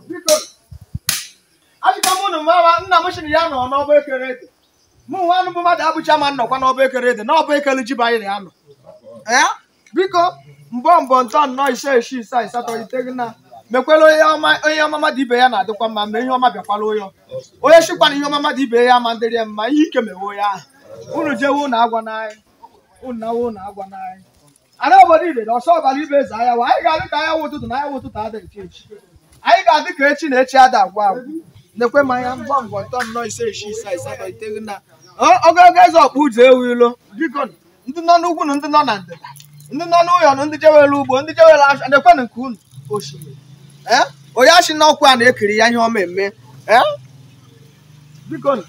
biko achịkwa m unu ma nna m sịrị ya nọ n'ọba ekere ede mụ nwa anụ bụ mmadụ abụcha ma nnọkwa n'ọba ekere ede n'ọba ekele ji bụ anyị na ya nọ ee biko mbọ mbọ ntọ nnọọ ise isii isaa asatọ iteghị na mekwela onye ọma mmadụ ibe ya na-adịkwa mma ma ihe ọma bịakwala ya onye sikwa na ihe ọma mmadụ ibe ya ama adịrị ya mma ihe ike mewe onye ahụ unu jewe unu agwana anyị unu nawe unu agwana anyị Ana obodo Idede ọsọ ọbara ibe eze anyanwụ anyị ga-adị ka anyanwụ ụtụtụ na anyanwụ ụtụtụ ada nke echi anyị ga-adị ka echi na echi ada agwụ agwụ nekwe mmanya mbọ mbọ ntọ nnọọ ise isii isaa asatọ iteghị na Ọ- ogologo ezi ọkpụ ụzọ enwe ilo biko nụ, ndị nọ n'ugwu na ndị nọ na ndịda ndị nọ n'ụyọ na ndị jewere ugbo ndị jewere afịa nekwenụ nke unu osimiri ee onye achị n'ọkwa a na-ekiri ya ihe ọma eme ee biko nụ,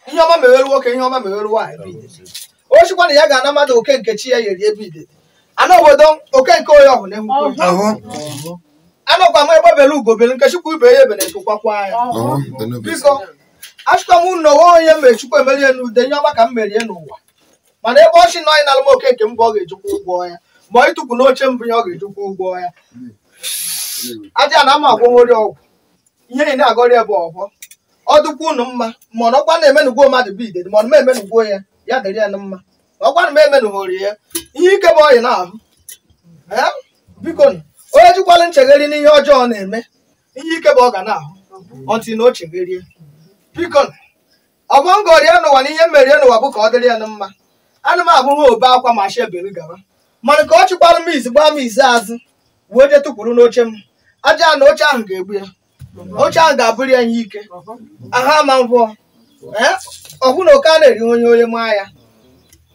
ihe ọma mewere nwoke ihe ọma mewere nwaanyị bi Idede ọ chịkwa na ya ga-ana mmadụ oke nke chi ya yeri ebe Idede ana obodo oke nke onye ọhụrụ na-enwekwa ya. Ọhụ. Ọhụ. anọkwa m egbe bere ugo bere nke chịkwa ibe ya ebena nku kwakwa ya Ọhụ. Benube. biko achịkwa m unu onwe onye mere chukwu emerie n'ude ihe ọma ka m merie n'ụwa mana ebe ọ sị na onye na-alụ m oke nke mbụ ọ ga-ejikwa ụgwọ ya ma ọ ịtụkwu n'oche mbụ ya ọ ga-ejikwa ụgwọ ya aja na ama agwọnwori ọgwụ ihe ị na-agọrọ ya bụ ọhọ ọ dịkwa unu mma ma ọ nọkwa na-emenugwo mmadụ bi Idede ma ọ na emenugwo ya ya dịrị ya na mma ma ọkwa na m emenụghori ya ihe ike bụ ọ yị na-ahụ Ee, biko nụ, onye jikwala nchegharị n'ihe ọjọọ ọ na-eme ihe ike bụ ọ ga na-ahụ ọtị na o chegharie biko nụ, ọbọ ngọri ya n'ụwa na ihe mere ya n'ụwa bụ ka ọ dịrị ya na mma ana m abụghị obe akwa ma shi ebere gawa mana ka ọ chịkwara m izi gbaa m izi azụ wee je tụkwuru n'oche m aja na oche ahụ ga-egbu ya oche ahụ ga-abụrụ ya ihe ike aha ma ngwọ ee ọkwụ na oke a na-eri onye onye maa ya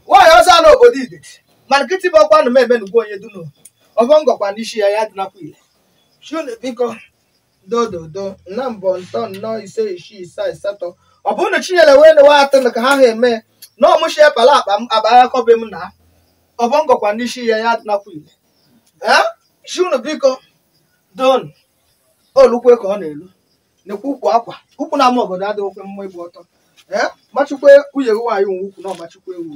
nwaanyị ọzọ n'obodo Idede ma nkịtị bụ ọkwa na m emenugwu onye dunu ọbọ ngọkwa n'isi ya ya dịnakwa ile chị unu biko dododo na mbọ ntọ nnọọ ise isii isaa asatọ ọ bụrụ na chinyere wee newe atọ na ka ha ha eme na ọmụchi epala akpa m abagha kọbe m na ọbọ ngọkwa n'isi ya ya nakwa ile ee chị unu biko don olukwe ka ọ na-elu nekwa ukwu akwa ukwu na ama obodo adịghị okwe mma ịgba ọtọ ee machikwe nwunye gị nwaanyị nwe ukwu na ọ machikwe ewu